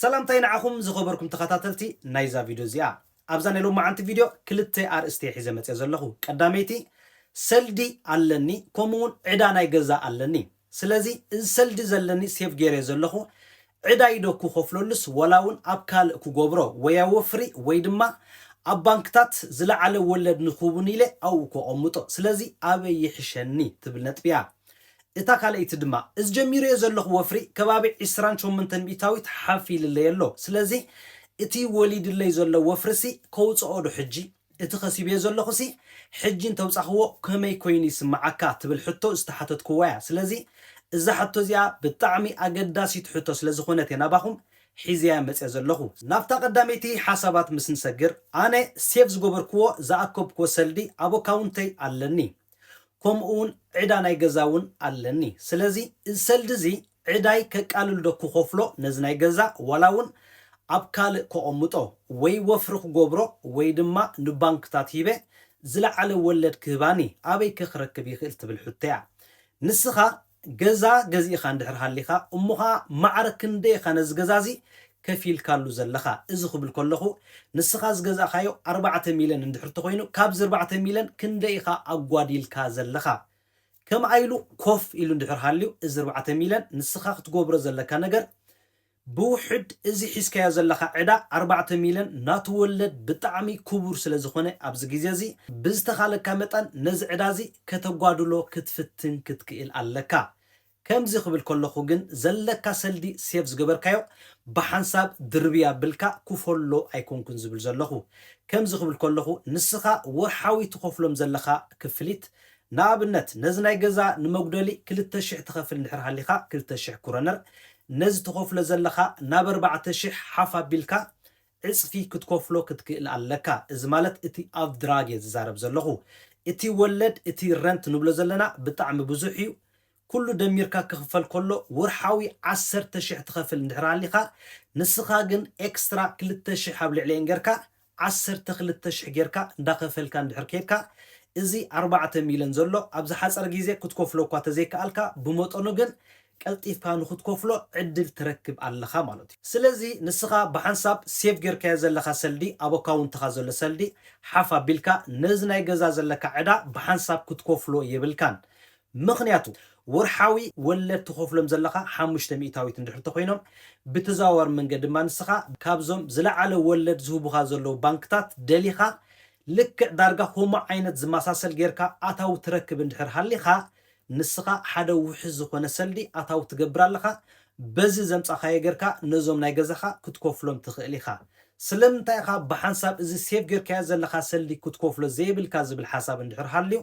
ሰላምታይ ንዓኹም ዝኸበርኩም ተኸታተልቲ ናይዛ ቪድዮ እዚኣ። ኣብዛ ናይ ሎማዓንቲ ቪድዮ ክልተ ኣርእስቲ እየ ሒዘ መፅየ ዘለኹ። ቀዳመይቲ ሰልዲ ኣለኒ ከምኡ እውን ዕዳ ናይ ገዛ ኣለኒ። ስለዚ እዚ ሰልዲ ዘለኒ ሴቭ ገይረዮ ዘለኹ ዕዳይ ዶ ክኸፍለሉስ ዋላውን ኣብ ካልእ ክጎብሮ ወያ ወፍሪ ወይ ድማ ኣብ ባንክታት ዝለዓለ ወለድ ንክህቡኒ ኢለ ኣብኡ ከቐምጦ ስለዚ ኣበይ ይሕሸኒ ትብል ነጥቢያ እታ ካልኣይቲ ድማ እዚ ጀሚረዮ ዘለኹ ወፍሪ ከባቢ ዕስራን ሸሞንተን ሚእታዊት ሓፍ ኢልለይ ኣሎ ስለዚ እቲ ወሊድለይ ዘሎ ወፍሪሲ ከውጸኦ ዶ ሕጂ እቲ ከሲበዮ ዘለኹሲ ሕጂ እንተውጻኽዎ ከመይ ኮይኑ ይስምዓካ ትብል ሕቶ ዝተሓተትክዋ'ያ። ስለዚ እዛ ሕቶ'ዚኣ ብጣዕሚ ኣገዳሲት ሕቶ ስለዝኾነት'የ ናባኹም ሒዘያ መጺኣ ዘለኹ። ናብታ ቀዳመይቲ ሓሳባት ምስ ንሰግር፣ ኣነ ሴቭ ዝገበርክዎ ዝኣከብክዎ ሰልዲ ኣብ ኣካውንተይ ኣለኒ። ከምኡ'ውን ዕዳ ናይ ገዛ'ውን ኣለኒ። ስለዚ እዚ ሰልዲ'ዚ ዕዳይ ከቃልል ዶ ክኸፍሎ ነዚ ናይ ገዛ ዋላ ውን ኣብ ካልእ ከቐምጦ ወይ ወፍሪ ክገብሮ ወይ ድማ ንባንክታት ሂበ ዝለዓለ ወለድ ክህባኒ ኣበይ ከ ክረክብ ይኽእል ትብል ሕቶ እያ ንስኻ ገዛ ገዚእኻ እንድሕር ሃሊኻ እሞ ኸኣ ማዕረ ክንደይ ኢኻ ነዚ ገዛ እዚ ከፊልካሉ ዘለኻ እዚ ክብል ከለኹ ንስኻ ዝገዛእኻዮ ኣርባዕተ ሚልዮን እንድሕር ተኾይኑ ካብዚ ኣርባዕተ ሚልዮን ክንደይ ኢኻ ኣጓዲልካ ዘለኻ ከምኣ ኢሉ ኮፍ ኢሉ እንድሕር ሃልዩ እዚ ኣርባዕተ ሚልዮን ንስኻ ክትጎብሮ ዘለካ ነገር ብውሕድ እዚ ሒዝካዮ ዘለኻ ዕዳ ኣርባዕተ ሚልዮን ናቱ ወለድ ብጣዕሚ ክቡር ስለ ዝኾነ ኣብዚ ግዜ እዚ ብዝተኻለካ መጠን ነዚ ዕዳ እዚ ከተጓድሎ ክትፍትን ክትክእል ኣለካ ከምዚ ክብል ከለኩ ግን ዘለካ ሰልዲ ሴቭ ዝገበርካዮ ብሓንሳብ ድርብይ ኣብልካ ኩፈሎ ኣይኮንኩን ዝብል ዘለኩ ከምዚ ክብል ከለኩ ንስካ ወርሓዊ ትከፍሎም ዘለካ ክፍሊት ንኣብነት ነዚ ናይ ገዛ ንመጉደሊ ክልተ ሽሕ ትከፍል እንድሕር ሃሊካ ክልተ ሽሕ ኩረነር ነዚ ትከፍሎ ዘለካ ናብ ኣርባዕተ ሽሕ ሓፍ ኣብልካ ዕጽፊ ክትከፍሎ ክትክእል ኣለካ እዚ ማለት እቲ ኣብ ድራግ እየ ዝዛረብ ዘለኹ እቲ ወለድ እቲ ረንት ንብሎ ዘለና ብጣዕሚ ብዙሕ እዩ ኩሉ ደሚርካ ክኽፈል ከሎ ወርሓዊ ዓሰርተ ሽሕ ትኸፍል እንድሕር ሃሊኻ ንስኻ ግን ኤክስትራ ክልተ ሽሕ ኣብ ልዕሊኤን ገርካ ዓሰርተ ክልተ ሽሕ ገርካ እንዳኸፈልካ እንድሕር ኬድካ እዚ ኣርባዕተ ሚለን ዘሎ ኣብ ዝሓጸረ ግዜ ክትከፍሎ እኳ ተዘይከኣልካ ብመጠኑ ግን ቀልጢፍካ ንኽትከፍሎ ዕድል ትረክብ ኣለኻ ማለት እዩ። ስለዚ ንስኻ ብሓንሳብ ሴቭ ጌርካዮ ዘለኻ ሰልዲ ኣብ ኣካውንትኻ ዘሎ ሰልዲ ሓፍ ኣቢልካ ነዚ ናይ ገዛ ዘለካ ዕዳ ብሓንሳብ ክትከፍሎ የብልካን። ምኽንያቱ ወርሓዊ ወለድ ትኸፍሎም ዘለኻ ሓሙሽተ ሚእታዊት እንድሕር ተኾይኖም ብተዘዋዋሪ መንገዲ ድማ ንስኻ ካብዞም ዝለዓለ ወለድ ዝህቡኻ ዘለዉ ባንክታት ደሊኻ ልክዕ ዳርጋ ከምኡ ዓይነት ዝመሳሰል ጌርካ ኣታዊ ትረክብ እንድሕር ሃሊኻ ንስኻ ሓደ ውሕስ ዝኾነ ሰልዲ ኣታዊ ትገብር ኣለኻ በዚ ዘምጻኻዮ ገርካ ነዞም ናይ ገዛኻ ክትኮፍሎም ትኽእል ኢኻ ስለምንታይ ኢኻ ብሓንሳብ እዚ ሴቭ ገርካዮ ዘለኻ ሰልዲ ክትኮፍሎ ዘይብልካ ዝብል ሓሳብ እንድሕር ሃልዩ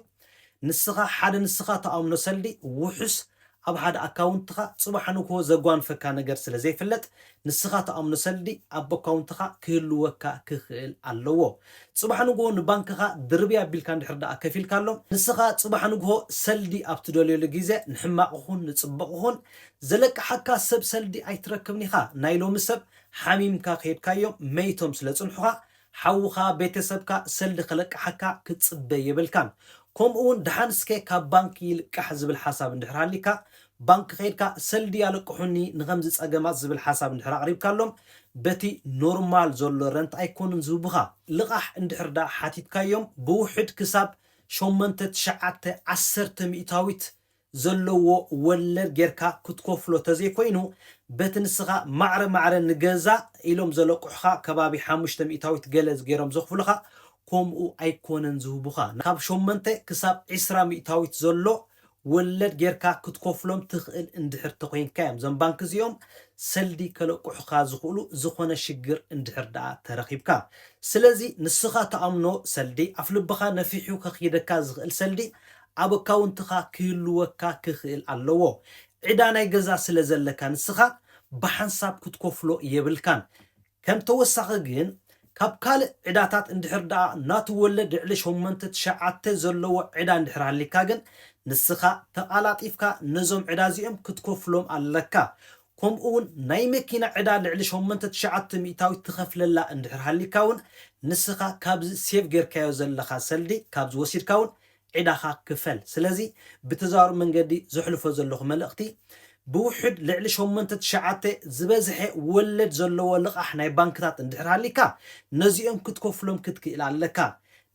ንስኻ ሓደ ንስኻ ትኣምኖ ሰልዲ ውሕስ ኣብ ሓደ ኣካውንትኻ ጽባሕ ንግሆ ዘጓንፈካ ነገር ስለ ዘይፍለጥ ንስኻ ትኣምኖ ሰልዲ ኣብ ኣካውንትኻ ክህልወካ ክኽእል ኣለዎ። ጽባሕ ንግሆ ንባንክኻ ድርብይ ኣቢልካ እንድሕር ደኣ ከፊልካሎም፣ ንስኻ ጽባሕ ንግሆ ሰልዲ ኣብ ትደልየሉ ግዜ ንሕማቕ ይኹን ንጽቡቕ ይኹን ዘለቅሓካ ሰብ ሰልዲ ኣይትረክብን ኢኻ። ናይ ሎሚ ሰብ ሓሚምካ ከይድካዮም መይቶም ስለ ጽንሑኻ ሓውኻ ቤተሰብካ ሰልዲ ክለቅሓካ ክትጽበ የብልካን ኮምኡ ውን ድሓን ስከ ካብ ባንክ ይልቃሕ ዝብል ሓሳብ እንድሕር ሃሊካ ባንክ ከይድካ ሰልዲ ኣለቅሑኒ ንከምዚ ጸገማት ዝብል ሓሳብ እንድሕር ኣቅሪብካሎም በቲ ኖርማል ዘሎ ረንት ኣይኮኑን ዝህቡካ ልቃሕ እንድሕር ድኣ ሓቲትካዮም ብውሕድ ክሳብ ሸሞንተ ትሽዓተ ዓሰርተ ሚእታዊት ዘለዎ ወለድ ጌርካ ክትከፍሎ ተዘይኮይኑ በቲ ንስኻ ማዕረ ማዕረ ንገዛ ኢሎም ዘለቁሑኻ ከባቢ ሓሙሽተ ሚእታዊት ገለ ጌሮም ዘኽፍሉኻ ኮምኡ ኣይኮነን ዝህቡኻ ካብ ሸሞንተ ክሳብ ዕስራ ሚእታዊት ዘሎ ወለድ ጌርካ ክትከፍሎም ትኽእል እንድሕር ተኮይንካ እዮም ዞም ባንኪ እዚኦም ሰልዲ ከለቁሑኻ ዝኽእሉ ዝኾነ ሽግር እንድሕር ደኣ ተረኺብካ ስለዚ ንስኻ ትኣምኖ ሰልዲ ኣፍልብኻ ነፊሑ ከኽይደካ ዝኽእል ሰልዲ ኣብ ኣካውንትኻ ክህልወካ ክኽእል ኣለዎ። ዕዳ ናይ ገዛ ስለ ዘለካ ንስኻ ብሓንሳብ ክትከፍሎ የብልካን። ከም ተወሳኺ ግን ካብ ካልእ ዕዳታት እንድሕር ደኣ ናቱ ወለድ ልዕሊ ሸሞንተ ትሽዓተ ዘለዎ ዕዳ እንድሕር ሃሊካ ግን ንስኻ ተቓላጢፍካ ነዞም ዕዳ እዚኦም ክትከፍሎም ኣለካ። ከምኡ ውን ናይ መኪና ዕዳ ልዕሊ ሸሞንተ ትሽዓተ ሚእታዊት ትኸፍለላ እንድሕር ሃሊካ ውን ንስኻ ካብዚ ሴቭ ጌርካዮ ዘለኻ ሰልዲ ካብዚ ወሲድካ ውን ዒዳኻ ክፈል ስለዚ ብተዘዋዋሪ መንገዲ ዘሕልፎ ዘለኹ መልእኽቲ ብውሑድ ልዕሊ ሸሞንተ ትሽዓተ ዝበዝሐ ወለድ ዘለዎ ልቓሕ ናይ ባንክታት እንድሕር ሃሊካ ነዚኦም ክትከፍሎም ክትክኢል ኣለካ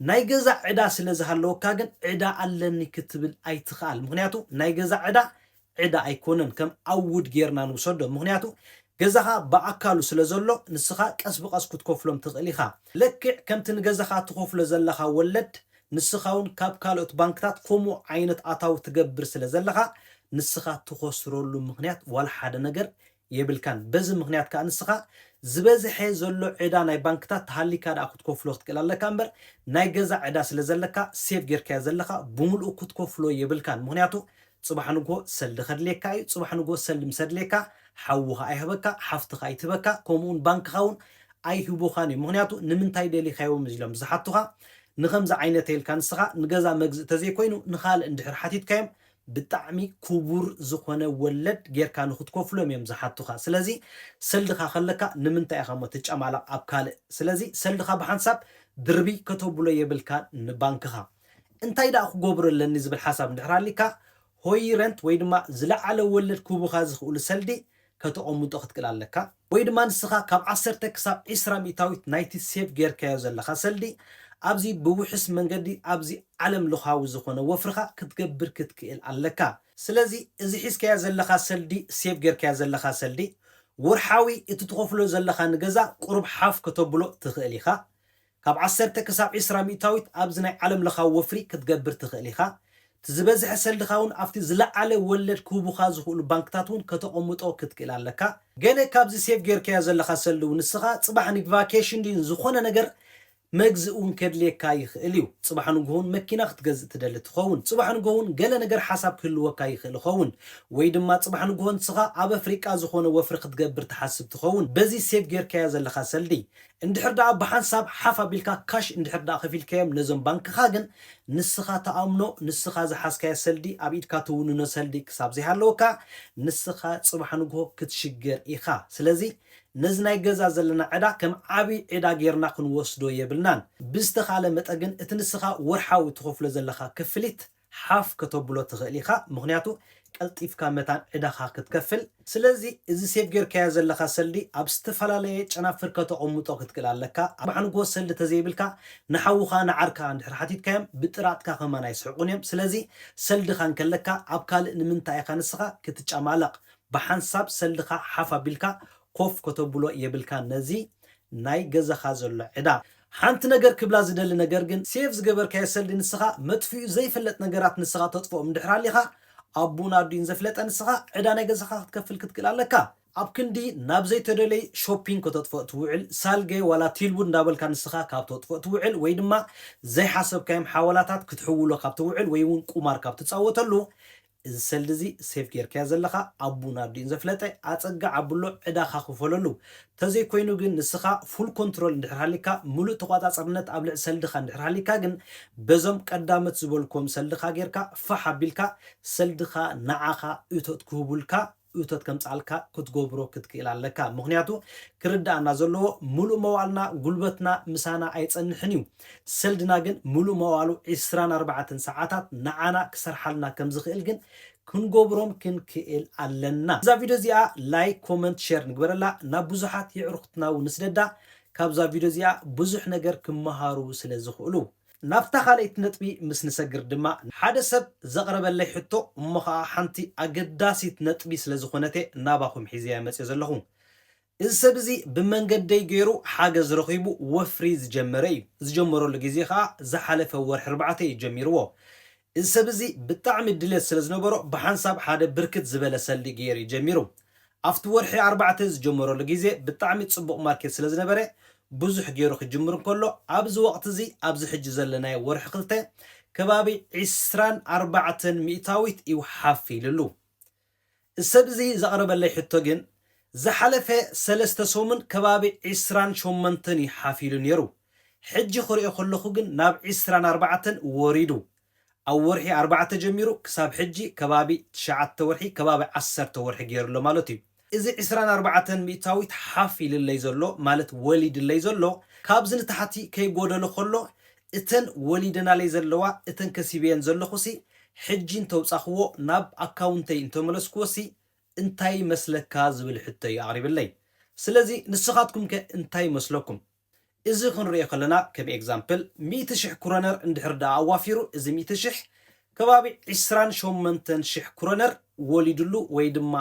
ናይ ገዛ ዕዳ ስለ ዝሃለወካ ግን ዕዳ ኣለኒ ክትብል ኣይትኽኣል ምኽንያቱ ናይ ገዛ ዕዳ ዕዳ ኣይኮነን ከም ኣውድ ጌርና ንውሰዶ ምኽንያቱ ገዛኻ ብኣካሉ ስለ ዘሎ ንስኻ ቀስ ብቀስ ክትከፍሎም ትኽእል ኢኻ ለክዕ ከምቲ ንገዛኻ ትኸፍሎ ዘለኻ ወለድ ንስኻውን ካብ ካልኦት ባንክታት ከምኡ ዓይነት ኣታዊ ትገብር ስለ ዘለኻ ንስኻ ትኸስረሉ ምኽንያት ዋላ ሓደ ነገር የብልካን በዚ ምክንያት ከኣ ንስካ ዝበዝሐ ዘሎ ዕዳ ናይ ባንክታት ተሃሊካ ደኣ ክትኮፍሎ ክትክእል ኣለካ እንበር ናይ ገዛ ዕዳ ስለ ዘለካ ሴቭ ጌርካዮ ዘለካ ብሙሉኡ ክትኮፍሎ የብልካን ምክንያቱ ጽባሕ ንግሆ ሰልዲ ከድልየካ እዩ ጽባሕ ንግሆ ሰልዲ ምስ ኣድልየካ ሓውካ ኣይህበካ ሓፍትካ ኣይትህበካ ከምኡ ውን ባንክካ ውን ኣይህቡካን እዮም ምክንያቱ ንምንታይ ደሊካዮ ምስ ኢሎም ዝሓቱካ ንከምዚ ዓይነተ ኢልካ ንስካ ንገዛ መግዝእ ተዘይኮይኑ ንካልእ እንድሕር ሓቲትካዮም ብጣዕሚ ኩቡር ዝኮነ ወለድ ጌርካ ንክትኮፍሎም እዮም ዝሓቱካ ስለዚ ሰልድካ ከለካ ንምንታይ ኢካ እሞ ትጫማላቅ ኣብ ካልእ ስለዚ ሰልድካ ብሓንሳብ ድርብይ ከተቡሎ የብልካን ንባንክካ እንታይ ዳኣ ክጎብሮ ኣለኒ ዝብል ሓሳብ እንድሕር ሃሊካ ሆይረንት ወይ ድማ ዝላዓለ ወለድ ክህቡካ ዝክእሉ ሰልዲ ከተቀሙጦ ክትክል ኣለካ ወይ ድማ ንስኻ ካብ ዓሰርተ ክሳብ ዕስራ ሚእታዊት ናይቲ ሴቭ ገይርካዮ ዘለኻ ሰልዲ ኣብዚ ብውሑስ መንገዲ ኣብዚ ዓለም ለኻዊ ዝኾነ ወፍርኻ ክትገብር ክትክእል ኣለካ። ስለዚ እዚ ሒዝካዮ ዘለኻ ሰልዲ ሴቭ ገይርካዮ ዘለኻ ሰልዲ ወርሓዊ እቲ ትኸፍሎ ዘለኻ ንገዛ ቁሩብ ሓፍ ከተብሎ ትኽእል ኢኻ። ካብ ዓሰርተ ክሳብ ዕስራ ሚእታዊት ኣብዚ ናይ ዓለም ለኻዊ ወፍሪ ክትገብር ትኽእል ኢኻ። እቲ ዝበዝሐ ሰልድኻ እውን ኣብቲ ዝለዓለ ወለድ ክህቡኻ ዝኽእሉ ባንክታት እውን ከተቐምጦ ክትክእል ኣለካ። ገለ ካብዚ ሴቭ ገይርካዮ ዘለኻ ሰልዲ እውን ንስኻ ጽባሕ ንቫኬሽን ድዩ ንዝኾነ ነገር መግዝኢ እውን ከድልየካ ይኽእል እዩ። ጽባሕ ንግሆ እውን መኪና ክትገዝእ ትደሊ ትኸውን። ጽባሕ ንግሆ እውን ገለ ነገር ሓሳብ ክህልወካ ይኽእል ይኸውን። ወይ ድማ ጽባሕ ንግሆ ንስኻ ኣብ ኣፍሪቃ ዝኾነ ወፍሪ ክትገብር ትሓስብ ትኸውን በዚ ሴቭ ገይርካዮ ዘለኻ ሰልዲ። እንድሕር ደኣ ብሓንሳብ ሓፍ ኣቢልካ ካሽ እንድሕር ደኣ ከፊልካዮም ነዞም ባንክኻ ግን ንስኻ ትኣምኖ ንስኻ ዝሓዝካዮ ሰልዲ ኣብ ኢድካ ትውንኖ ሰልዲ ክሳብ ዘይሃለወካ ንስኻ ጽባሕ ንግሆ ክትሽገር ኢኻ ስለዚ ነዚ ናይ ገዛ ዘለና ዕዳ ከም ዓቢ ዒዳ ጌርና ክንወስዶ የብልናን ብዝተኻለ መጠግን እቲ ንስኻ ወርሓዊ ትኸፍሎ ዘለኻ ክፍሊት ሓፍ ከተብሎ ትኽእል ኢኻ ምኽንያቱ ቀልጢፍካ መታን ዕዳኻ ክትከፍል ስለዚ እዚ ሴቭ ጌርካዮ ዘለኻ ሰልዲ ኣብ ዝተፈላለየ ጨናፍር ከተቐምጦ ክትክእል ኣለካ ኣብ ኣንጎ ሰልዲ ተዘይብልካ ንሓውኻ ንዓርካ እንድሕር ሓቲትካዮም ብጥራጥካ ከማን ኣይስሕቁን እዮም ስለዚ ሰልድኻ እንከለካ ኣብ ካልእ ንምንታይ ኢኻ ንስኻ ክትጫማለቕ ብሓንሳብ ሰልድኻ ሓፍ ኣቢልካ ኮፍ ከተብሎ የብልካን ነዚ ናይ ገዛኻ ዘሎ ዕዳ ሓንቲ ነገር ክብላ ዝደሊ ነገር ግን ሴቭ ዝገበርካዮ ሰልዲ ንስኻ መጥፊኡ ዘይፈለጥ ነገራት ንስኻ ተጥፍኦም እንድሕር ኣሊኻ ኣቡኡን ኣዲኡን ዘፍለጠ ንስኻ ዕዳ ናይ ገዛኻ ክትከፍል ክትክእል ኣለካ። ኣብ ክንዲ ናብ ዘይተደለዩ ሾፒንግ ከተጥፍኦ ትውዕል ሳልገ ዋላ ቲልቡድ እንዳበልካ ንስኻ ካብ ተጥፍኦ ትውዕል ወይ ድማ ዘይሓሰብካዮም ሓወላታት ክትሕውሎ ካብ ትውዕል ወይ ውን ቁማር ካብ ትጻወተሉ እዚ ሰልዲ እዚ ሴቭ ጌርካዮ ዘለኻ ኣቡ ናርዲን ዘፍለጠ ኣጸግዕ ኣብሎ ዕዳኻ ክፈለሉ ተዘይ ኮይኑ ግን ንስኻ ፉል ኮንትሮል እንድሕር ሃሊካ ምሉእ ተቋጻጽርነት ኣብ ልዕሊ ሰልድኻ እንድሕር ሃሊካ ግን በዞም ቀዳመት ዝበልክዎም ሰልድኻ ጌርካ ፋሕ ኣቢልካ ሰልድኻ ንዓኻ እቶት ክህቡልካ እቶት ከምጽኣልካ ክትጎብሮ ክትክእል ኣለካ ምክንያቱ ክርድኣና ዘለዎ ሙሉእ መዋእልና ጉልበትና ምሳና ኣይጸንሕን እዩ ሰልድና ግን ሙሉእ መዋእሉ ዕስራን ኣርባዕተን ሰዓታት ንዓና ክሰርሓልና ከምዝክእል ግን ክንጎብሮም ክንክእል ኣለና እዛ ቪድዮ እዚኣ ላይክ ኮመንት ሸር ንግበረላ ናብ ብዙሓት የዕሩክትና ውን ንስደዳ ካብዛ ቪድዮ እዚኣ ብዙሕ ነገር ክመሃሩ ስለ ዝክእሉ ናብታ ካልኣይቲ ነጥቢ ምስ ንሰግር ድማ፣ ሓደ ሰብ ዘቕረበለይ ሕቶ እሞ ኸኣ ሓንቲ ኣገዳሲት ነጥቢ ስለ ዝኾነት'የ ናባኹም ሒዘያ መጺኦ ዘለኹ። እዚ ሰብ እዚ ብመንገደይ ገይሩ ሓገዝ ረኺቡ ወፍሪ ዝጀመረ እዩ። ዝጀመረሉ ግዜ ኸኣ ዝሓለፈ ወርሒ ኣርባዕተ እዩ ጀሚርዎ። እዚ ሰብ እዚ ብጣዕሚ ድሌት ስለ ዝነበሮ ብሓንሳብ ሓደ ብርክት ዝበለ ሰልዲ ገይሩ እዩ ጀሚሩ። ኣብቲ ወርሒ ኣርባዕተ ዝጀመረሉ ግዜ ብጣዕሚ ጽቡቕ ማርኬት ስለ ዝነበረ ብዙሕ ገይሩ ክጅምር እንከሎ ኣብዚ ወቕቲ እዚ ኣብዚ ሕጂ ዘለናዮ ወርሒ ክልተ ከባቢ ዕስራን ኣርባዕተን ሚእታዊት እዩ ሓፍ ኢልሉ። ሰብ'ዚ ዘቕረበለይ ሕቶ ግን ዝሓለፈ ሰለስተ ሰሙን ከባቢ ዕስራን ሸሞንተን እዩ ሓፊሉ ነይሩ። ሕጂ ክሪኦ ከለኹ ግን ናብ ዕስራን ኣርባዕተን ወሪዱ። ኣብ ወርሒ ኣርባዕተ ጀሚሩ ክሳብ ሕጂ ከባቢ ትሽዓተ ወርሒ ከባቢ ዓሰርተ ወርሒ ገይሩ ኣሎ ማለት እዩ። እዚ ዕስራን ኣርባዕተን ሚእታዊት ሓፍ ኢልለይ ዘሎ ማለት ወሊድለይ ዘሎ ካብዚ ንታሕቲ ከይጎደሎ ከሎ እተን ወሊደናለይ ዘለዋ እተን ከሲበየን ዘለኹሲ ሕጂ እንተውጻኹዎ ናብ ኣካውንተይ እንተመለስኩዎሲ እንታይ ይመስለካ ዝብል ሕቶ እዩ ኣቕሪብለይ ስለዚ ንስኻትኩም ከ እንታይ ይመስለኩም እዚ ክንሪኦ ከለና ከም ኤግዛምፕል ሚእቲ ሽሕ ኩረነር እንድሕር ደኣ ኣዋፊሩ እዚ ሚእቲ ሽሕ ከባቢ ዕስራን ሸሞንተን ሽሕ ኩረነር ወሊድሉ ወይ ድማ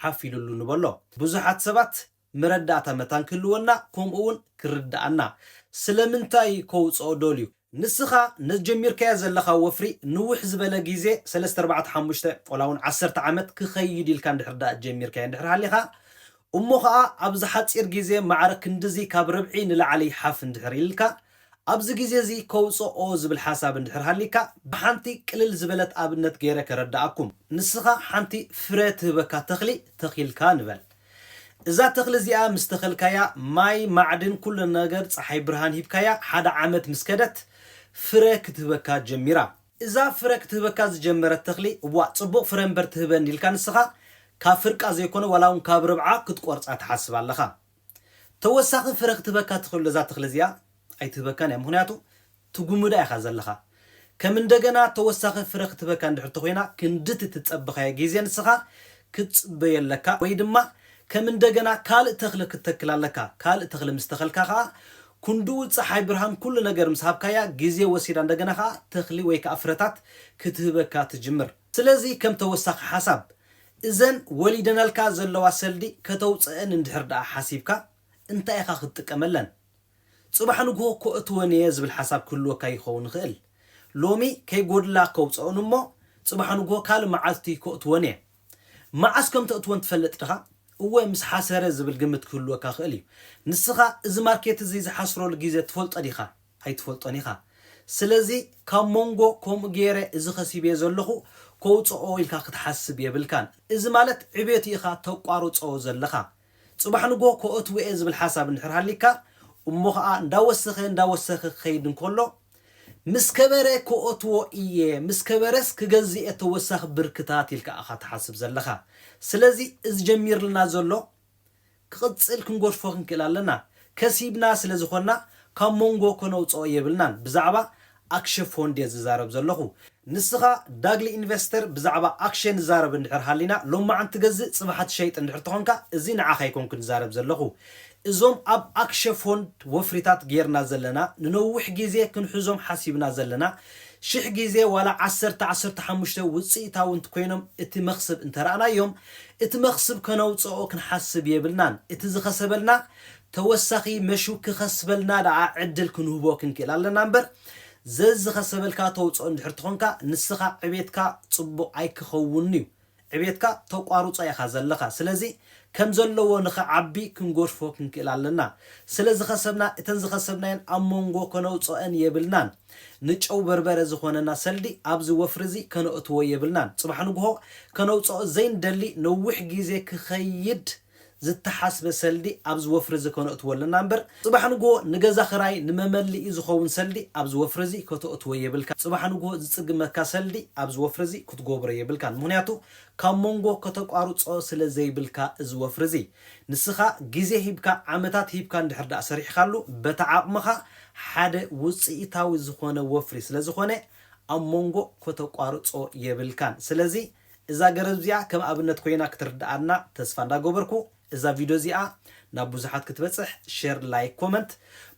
ሓፊሉሉ ንበሎ ብዙሓት ሰባት መረዳእታ መታን ክህልወና ኮምኡውን ክርዳኣና ስለምንታይ ከውጽኦ ደልዩ። ንስኻ ነቲ ጀሚርካዮ ዘለኻ ወፍሪ ንውሕ ዝበለ ግዜ ሰለስተ ኣርባዕተ ሓሙሽተ ወላውን ዓሰርተ ዓመት ክኸይድ ኢልካ እንድሕር ደኣ ጀሚርካዮ እንድሕር ሃሊኻ እሞ ኸኣ ኣብዚ ሓጺር ግዜ ማዕረ ክንድዚ ካብ ርብዒ ንላዕሊ ሓፍ እንድሕር ኢልልካ ኣብዚ ግዜ እዚ ከውጽኦ ዝብል ሓሳብ እንድሕር ሃሊካ ብሓንቲ ቅልል ዝበለት ኣብነት ገይረ ከረዳኣኩም። ንስኻ ሓንቲ ፍረ ትህበካ ተኽሊ ተኺልካ ንበል። እዛ ተኽሊ እዚኣ ምስ ተኸልካያ ማይ ማዕድን ኩሉ ነገር ጸሓይ ብርሃን ሂብካያ ሓደ ዓመት ምስ ከደት ፍረ ክትህበካ ጀሚራ። እዛ ፍረ ክትህበካ ዝጀመረት ተኽሊ እዋእ ጽቡቕ ፍረ እምበር ትህበኒ ኢልካ ንስኻ ካብ ፍርቃ ዘይኮነ ዋላ ውን ካብ ርብዓ ክትቆርጻ ትሓስብ ኣለኻ። ተወሳኺ ፍረ ክትህበካ ትኽእል ዶ እዛ ተኽሊ እዚኣ? ኣይትህበካን እያ ምኽንያቱ ትጉምዳ ኢኻ ዘለኻ። ከም እንደገና ተወሳኺ ፍረ ክትበካ እንድሕር ተኾይና ክንድቲ ትጸበኻዮ ግዜ ንስኻ ክትጽበዮ ኣለካ ወይ ድማ ከም እንደገና ካልእ ተኽሊ ክትተክል ኣለካ። ካልእ ተኽሊ ምስ ተኸልካ ከኣ ኩንድኡ ጸሓይ ብርሃን ኩሉ ነገር ምስ ሃብካያ ግዜ ወሲዳ እንደገና ከኣ ተኽሊ ወይ ከኣ ፍረታት ክትህበካ ትጅምር። ስለዚ ከም ተወሳኺ ሓሳብ እዘን ወሊደናልካ ዘለዋ ሰልዲ ከተውጸእን እንድሕር ደኣ ሓሲብካ እንታይ ኢኻ ክትጥቀመለን? ጽባሕ ንግሆ ከእትወን እየ ዝብል ሓሳብ ክህልወካ ይኸውን ይኽእል። ሎሚ ከይጎድላ ከውጸኦን እሞ ጽባሕ ንግሆ ካልእ መዓልቲ ከእትወን እየ። መዓስ ከም ተእትወን ትፈልጥ ድኻ? እወ ምስ ሓሰረ ዝብል ግምት ክህልወካ ይኽእል እዩ። ንስኻ እዚ ማርኬት እዚ ዝሓስረሉ ግዜ ትፈልጦ ዲኻ? ኣይትፈልጦን ኢኻ። ስለዚ ካብ ሞንጎ ከምኡ ገይረ እዚ ከሲበዮ ዘለኹ ከውጸኦ ኢልካ ክትሓስብ የብልካን። እዚ ማለት ዕቤት ኢኻ ተቋርጾ ዘለኻ። ጽባሕ ንግሆ ከኦትዎ'የ ዝብል ሓሳብ እንድሕር ሃልይካ፣ እሞ ኸኣ እንዳወሰኸ እንዳወሰኸ ክኸይድ እንከሎ፣ ምስ ከበረ ከኦትዎ እየ፣ ምስ ከበረስ ክገዝእ'የ ተወሳኺ ብርክታት ኢልካ ኢኻ ትሓስብ ዘለኻ። ስለዚ እዚ ጀሚርልና ዘሎ ክቕጽል ክንገድፎ ክንክእል ኣለና። ከሲብና ስለ ዝኾንና ካብ ሞንጎ ከነውጽኦ የብልናን። ብዛዕባ ኣክሸ ፎንድ እየ ዝዛረብ ዘለኹ። ንስኻ ዳግሊ ኢንቨስተር ብዛዕባ ኣክሸ ንዛረብ እንድሕር ሃሊና ሎማዓንቲ ትገዝእ ፅባሓ ትሸይጥ እንድሕር ተኾንካ እዚ ንዓኻ ኣይኮንኩን ዝዛረብ ዘለኹ። እዞም ኣብ ኣክሸ ፎንድ ወፍሪታት ገይርና ዘለና ንነዊሕ ጊዜ ክንሕዞም ሓሲብና ዘለና ሽሕ ጊዜ ዋላ ዓሰርተ ዓሰርተ ሓሙሽተ ውፅኢታዊ እንትኮይኖም እቲ መኽስብ እንተረኣናዮም እቲ መኽስብ ከነውፀኦ ክንሓስብ የብልናን እቲ ዝኸሰበልና ተወሳኺ መሹ ክኸስበልና ደኣ ዕድል ክንህቦ ክንክእል ኣለና እምበር ዘዝኸሰበልካ ተውጽኦ እንድሕር ትኾንካ ንስኻ ዕቤትካ ጽቡቕ ኣይክኸውንን'ዩ። ዕቤትካ ተቋርጾ ኢኻ ዘለኻ። ስለዚ ከም ዘለዎ ንኽዓቢ ክንጎድፎ ክንክእል ኣለና። ስለ ዝኸሰብና እተን ዝኸሰብናየን ኣብ ሞንጎ ከነውጽኦ'ን የብልናን። ንጨው በርበረ ዝኾነና ሰልዲ ኣብዚ ወፍሪ'ዚ ከነእትዎ የብልናን። ጽባሕ ንግሆ ከነውጽኦ ዘይንደሊ ነዊሕ ግዜ ክኸይድ ዝተሓስበ ሰልዲ ኣብዚ ወፍሪዚ ከነእትዎ ኣለና እምበር ጽባሕ ንግሆ ንገዛ ክራይ ንመመልኢ ዝኸውን ሰልዲ ኣብዚ ወፍሪዚ ከተእትዎ የብልካን ጽባሕ ንግሆ ዝጽግመካ ሰልዲ ኣብዚ ወፍሪዚ ክትጎብሮ የብልካን ምኽንያቱ ካብ ሞንጎ ከተቋርጾ ስለ ዘይብልካ እዚ ወፍሪዚ ንስኻ ግዜ ሂብካ ዓመታት ሂብካ እንድሕር ድኣ ሰሪሕኻሉ በታ ዓቕምኻ ሓደ ውጽኢታዊ ዝኾነ ወፍሪ ስለ ዝኾነ ኣብ ሞንጎ ከተቋርጾ የብልካን ስለዚ እዛ ገረብ እዚኣ ከም ኣብነት ኮይና ክትርድኣና ተስፋ እንዳገበርኩ እዛ ቪድዮ እዚኣ ናብ ብዙሓት ክትበጽሕ ሸር ላይክ ኮመንት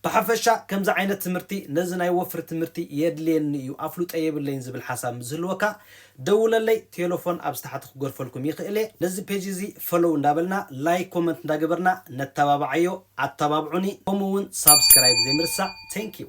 ብሓፈሻ ከምዚ ዓይነት ትምህርቲ ነዚ ናይ ወፍሪ ትምህርቲ የድልየኒ እዩ ኣፍልጦ የብለይን ዝብል ሓሳብ ምስ ዝህልወካ ደውለለይ ቴለፎን ኣብዚ ታሕቲ ክገርፈልኩም ይኽእል እየ ነዚ ፔጅ እዚ ፈሎው እንዳበልና ላይክ ኮመንት እንዳገበርና ነተባብዓዮ ኣተባብዑኒ ከምኡ ውን ሳብስክራይብ ዘይምርሳዕ Thank you።